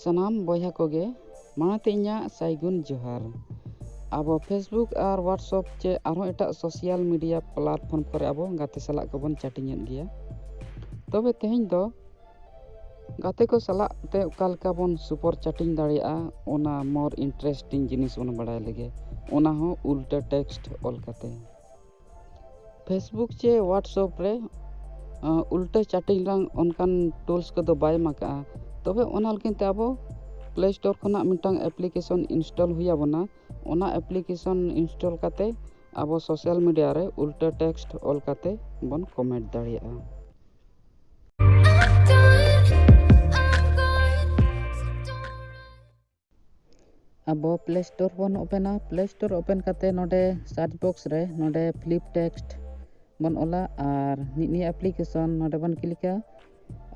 ᱥᱟᱱᱟᱢ ᱵᱚᱭᱦᱟ ᱠᱚᱜᱮ ᱢᱟᱲᱟᱝ ᱛᱮ ᱤᱧᱟᱹᱜ ᱥᱟᱭᱜᱩᱱ ᱡᱚᱦᱟᱨ ᱟᱵᱚ ᱯᱷᱮᱥᱵᱩᱠ ᱟᱨ ᱦᱳᱣᱟᱴᱥᱚᱯ ᱪᱮ ᱟᱨᱦᱚᱸ ᱮᱴᱟᱜ ᱥᱳᱥᱟᱞ ᱢᱤᱰᱤᱭᱟ ᱯᱞᱟᱴᱯᱷᱚᱨᱢ ᱠᱚᱨᱮ ᱟᱵᱚ ᱜᱟᱛᱮ ᱥᱟᱞᱟᱜ ᱠᱚᱵᱚᱱ ᱪᱟᱴᱤᱧᱮᱫ ᱜᱮᱭᱟ ᱛᱚᱵᱮ ᱛᱮᱦᱮᱧ ᱫᱚ ᱜᱟᱛᱮ ᱠᱚ ᱥᱟᱞᱟᱜ ᱛᱮ ᱚᱠᱟ ᱞᱮᱠᱟ ᱵᱚᱱ ᱥᱩᱯᱚᱨ ᱪᱟᱴᱤᱝ ᱫᱟᱲᱮᱭᱟᱜᱼᱟ ᱚᱱᱟ ᱢᱳᱨ ᱤᱱᱴᱟᱨᱮᱥᱴᱤᱝ ᱡᱤᱱᱤᱥ ᱵᱚᱱ ᱵᱟᱲᱟᱭ ᱞᱮᱜᱮ ᱚᱱᱟ ᱦᱚᱸ ᱩᱞᱴᱟᱹ ᱴᱮᱠᱥᱴ ᱚᱞ ᱠᱟᱛᱮ ᱯᱷᱮᱥᱵᱩᱠ ᱪᱮ ᱦᱳᱣᱟᱴᱥᱚᱯ ᱨᱮ ᱩᱞᱴᱟᱹ ᱪᱟᱴᱤᱝ ᱨᱮᱱᱟᱝ ᱚᱱᱠᱟᱱ ᱴᱩᱞᱥ ᱠᱚᱫᱚ ᱵᱟᱭ ᱮᱢ ᱟᱠᱟᱫᱼᱟ ᱛᱚᱵᱮ ᱚᱱᱟ ᱞᱟᱹᱜᱤᱫ ᱛᱮ ᱟᱵᱚ ᱯᱞᱮ ᱥᱴᱳᱨ ᱠᱷᱚᱱᱟᱜ ᱢᱤᱫᱴᱟᱝ ᱮᱯᱞᱤᱠᱮᱥᱚᱱ ᱤᱱᱥᱴᱚᱞ ᱦᱩᱭ ᱟᱵᱚᱱᱟ ᱚᱱᱟ ᱮᱯᱞᱤᱠᱮᱥᱚᱱ ᱤᱱᱥᱴᱚᱞ ᱠᱟᱛᱮᱫ ᱟᱵᱚ ᱥᱳᱥᱟᱞ ᱢᱤᱰᱤᱭᱟ ᱨᱮ ᱩᱞᱴᱟᱹ ᱴᱮᱠᱥᱴ ᱚᱞ ᱠᱟᱛᱮᱫ ᱵᱚᱱ ᱠᱚᱢᱮᱱᱴ ᱫᱟᱲᱮᱭᱟᱜᱼᱟ ᱟᱵᱚ ᱯᱞᱮ ᱥᱴᱳᱨ ᱵᱚᱱ ᱳᱯᱮᱱᱟ ᱯᱞᱮ ᱥᱴᱳᱨ ᱳᱯᱮᱱ ᱠᱟᱛᱮ ᱱᱚᱰᱮ ᱥᱟᱨᱪ ᱵᱚᱠᱥ ᱨᱮ ᱱᱚᱰᱮ ᱯᱷᱞᱤᱯ ᱴᱮᱠᱥᱴ ᱵᱚᱱ ᱚᱞᱟ ᱟᱨ ᱱᱤᱜ ᱱᱤᱭᱟᱹ ᱮᱯᱞᱤᱠᱮᱥᱚᱱ ᱱᱚᱰᱮ ᱵᱚᱱ ᱠᱞᱤᱠᱟ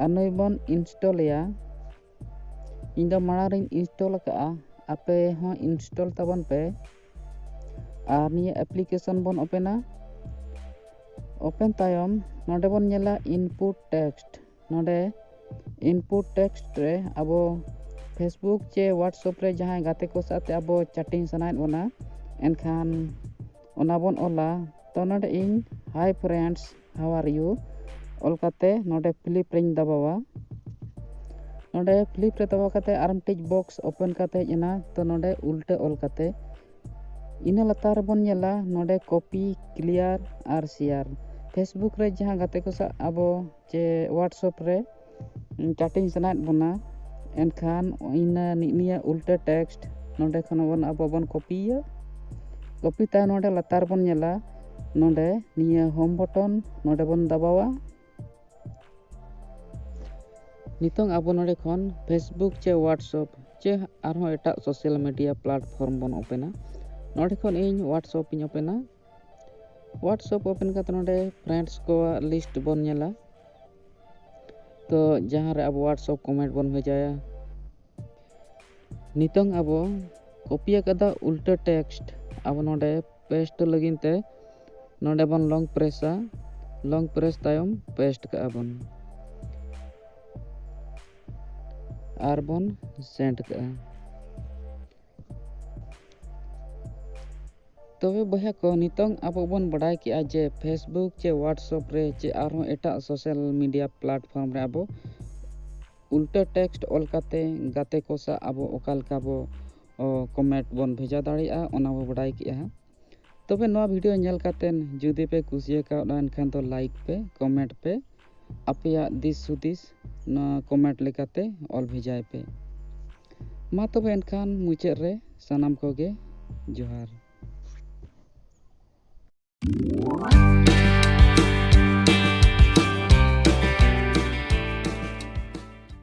ᱟᱨ ᱱᱩᱭ ᱵᱚᱱ ᱤᱱᱥᱴᱚᱞᱮᱭᱟ ᱤᱧ ᱫᱚ ᱢᱟᱲᱟᱝ ᱨᱤᱧ ᱤᱱᱥᱴᱚᱞ ᱟᱠᱟᱫᱼᱟ ᱟᱯᱮ ᱦᱚᱸ ᱤᱱᱥᱴᱚᱞ ᱛᱟᱵᱚᱱ ᱯᱮ ᱟᱨ ᱱᱤᱭᱟᱹ ᱮᱯᱞᱤᱠᱮᱥᱚᱱ ᱵᱚᱱ ᱳᱯᱮᱱᱟ ᱳᱯᱮᱱ ᱛᱟᱭᱚᱢ ᱱᱚᱰᱮ ᱵᱚᱱ ᱧᱮᱞᱟ ᱤᱱᱯᱩᱴ ᱴᱮᱠᱥᱴ ᱱᱚᱰᱮ ᱤᱱᱯᱩᱴ ᱴᱮᱠᱥᱴ ᱨᱮ ᱟᱵᱚ ᱯᱷᱮᱥᱵᱩᱠ ᱪᱮ ᱦᱳᱣᱟᱴᱥᱚᱯ ᱨᱮ ᱡᱟᱦᱟᱸᱭ ᱜᱟᱛᱮ ᱠᱚ ᱥᱟᱶᱛᱮ ᱟᱵᱚ ᱪᱟᱴᱤᱝ ᱥᱟᱱᱟᱭᱮᱫ ᱵᱚᱱᱟ ᱮᱱᱠᱷᱟᱱ ᱚᱱᱟ ᱵᱚᱱ ᱚᱞᱟ ᱛᱚ ᱱᱚᱰᱮ ᱤᱧ ᱦᱟᱭ ᱯᱷᱨᱮᱱᱰᱥ ᱦᱟᱣ ᱟᱨ ᱤᱭᱩ ᱚᱞ ᱠᱟᱛᱮ ᱱᱚᱰᱮ ᱯᱷᱤᱞᱤᱯ ᱨᱮᱧ ᱫᱟᱵᱟᱣᱟ ᱱᱚᱰᱮ ᱯᱷᱤᱞᱤᱯ ᱨᱮ ᱫᱟᱵᱟᱣ ᱠᱟᱛᱮ ᱟᱨ ᱢᱤᱫᱴᱤᱡ ᱵᱚᱠᱥ ᱳᱯᱮᱱ ᱠᱟᱛᱮ ᱦᱮᱡ ᱮᱱᱟ ᱛᱚ ᱱᱚᱰᱮ ᱩᱞᱴᱟᱹ ᱚᱞ ᱠᱟᱛᱮ ᱤᱱᱟᱹ ᱞᱟᱛᱟᱨ ᱨᱮᱵᱚᱱ ᱧᱮᱞᱟ ᱱᱚᱰᱮ ᱠᱚᱯᱤ ᱠᱞᱤᱭᱟᱨ ᱟᱨ ᱥᱮᱭᱟᱨ ᱯᱷᱮᱥᱵᱩᱠ ᱨᱮ ᱡᱟᱦᱟᱸ ᱜᱟᱛᱮ ᱠᱚ ᱥᱟᱶ ᱟᱵᱚ ᱪᱮ ᱦᱳᱣᱟᱴᱥᱮᱯ ᱨᱮ ᱪᱟᱴᱤᱝ ᱥᱟᱱᱟᱭᱮᱫ ᱵᱚᱱᱟ ᱮᱱᱠᱷᱟᱱ ᱤᱱᱟᱹ ᱱᱤᱭᱟᱹ ᱩᱞᱴᱟᱹ ᱴᱮᱠᱥᱴ ᱱᱚᱰᱮ ᱠᱷᱚᱱ ᱵᱚᱱ ᱟᱵᱚ ᱵᱚᱱ ᱠᱚᱯᱤᱭᱟ ᱠᱚᱯᱤ ᱛᱟᱭᱚᱢ ᱱᱚᱰᱮ ᱞᱟᱛᱟᱨ ᱵᱚᱱ ᱧᱮᱞᱟ ᱱᱚᱰᱮ ᱱᱤᱭᱟᱹ ᱦᱳᱢ ᱵᱚᱴᱚᱱ ᱱᱚᱰᱮ ᱵᱚᱱ ᱫᱟᱵᱟᱣᱟ ᱱᱤᱛᱚᱝ ᱟᱵᱚ ᱱᱚᱰᱮ ᱠᱷᱚᱱ ᱯᱷᱮᱥᱵᱩᱠ ᱪᱮ ᱦᱳᱣᱟᱴᱥᱮᱯ ᱪᱮ ᱟᱨᱦᱚᱸ ᱮᱴᱟᱜ ᱥᱳᱥᱟᱞ ᱢᱤᱰᱤᱭᱟ ᱯᱞᱟᱴᱯᱷᱚᱨᱢ ᱵᱚᱱ ᱳᱯᱮᱱᱟ ᱱᱚᱰᱮ ᱠᱷᱚᱱ ᱤᱧ ᱦᱳᱣᱟᱴᱥᱮᱯ ᱤᱧ ᱳᱯᱮᱱᱟ ᱦᱳᱣᱟᱴᱥᱮᱯ ᱳᱯᱮᱱ ᱠᱟᱛᱮ ᱱᱚᱰᱮ ᱯᱷᱨᱮᱱᱰᱥ ᱠᱚᱣᱟᱜ ᱞᱤᱥᱴ ᱵᱚᱱ ᱧᱮᱞᱟ ᱛᱚ ᱡᱟᱦᱟᱸ ᱨᱮ ᱟᱵᱚ ᱦᱳᱣᱟᱴᱥᱮᱯ ᱠᱚᱢᱮᱱᱴ ᱵᱚᱱ ᱵᱷᱮᱡᱟᱭᱟ ᱱᱤᱛᱚᱝ ᱟᱵᱚ ᱠᱚᱯᱤ ᱟᱠᱟᱫᱟ ᱩᱞᱴᱟᱹ ᱴᱮᱠᱥᱴ ᱟᱵᱚ ᱱᱚᱰᱮ ᱯᱮᱥᱴ ᱞᱟᱹᱜᱤᱫ ᱛᱮ ᱱᱚᱰᱮ ᱵᱚᱱ ᱞᱚᱝ ᱯᱨᱮᱥᱟ ᱞᱚᱝ ᱯᱨᱮᱥ ᱛᱟᱭᱚᱢ ᱯᱮᱥᱴ ᱠᱟᱜᱼᱟ ᱵᱚᱱ ᱟᱨ ᱵᱚᱱ ᱥᱮᱱᱰ ᱠᱟᱜᱼᱟ ᱛᱚᱵᱮ ᱵᱚᱭᱦᱟ ᱠᱚ ᱱᱤᱛᱚᱝ ᱟᱵᱚ ᱵᱚᱱ ᱵᱟᱰᱟᱭ ᱠᱮᱫᱼᱟ ᱡᱮ ᱯᱷᱮᱥᱵᱩᱠ ᱪᱮ ᱣᱟᱴᱥᱚᱯ ᱨᱮ ᱪᱮ ᱟᱨᱦᱚᱸ ᱮᱴᱟᱜ ᱥᱳᱥᱟᱞ ᱢᱤᱰᱤᱭᱟ ᱯᱞᱟᱴᱯᱷᱚᱨᱢ ᱨᱮ ᱟᱵᱚ ᱩᱞᱴᱟᱹ ᱴᱮᱠᱥᱴ ᱚᱞ ᱠᱟᱛᱮ ᱜᱟᱛᱮ ᱠᱚ ᱥᱟᱶ ᱟᱵᱚ ᱚᱠᱟ ᱞᱮᱠᱟ ᱵᱚ ᱠᱚᱢᱮᱱᱴ ᱵᱚᱱ ᱵᱷᱮᱡᱟ ᱫᱟᱲᱮᱭᱟᱜᱼᱟ ᱚᱱᱟ ᱵᱚ ᱵᱟᱰᱟᱭ ᱠᱮᱫᱼᱟ ᱛᱚᱵᱮ ᱱᱚᱣᱟ ᱵᱷᱤᱰᱤᱭᱳ ᱧᱮᱞ ᱠᱟᱛᱮ ᱡᱩᱫᱤ ᱯᱮ ᱠᱩᱥᱤ ᱟᱠᱟᱣᱫᱟ ᱮᱱᱠᱷᱟᱱ ᱫᱚ ᱞᱟᱭᱤᱠ ᱯᱮ ᱠᱚᱢᱮᱱᱴ ᱯᱮ ᱟᱯᱮᱭᱟᱜ ᱫᱤᱥ ᱦᱩᱫᱤᱥ ᱱᱚᱣᱟ ᱠᱚᱢᱮᱱᱴ ᱞᱮᱠᱟᱛᱮ ᱚᱞ ᱵᱷᱮᱡᱟᱭ ᱯᱮ ᱢᱟ ᱛᱚᱵᱮ ᱮᱱᱠᱷᱟᱱ ᱢᱩᱪᱟᱹᱫ ᱨᱮ ᱥᱟᱱᱟᱢ ᱠᱚᱜᱮ ᱡᱚᱦᱟᱨ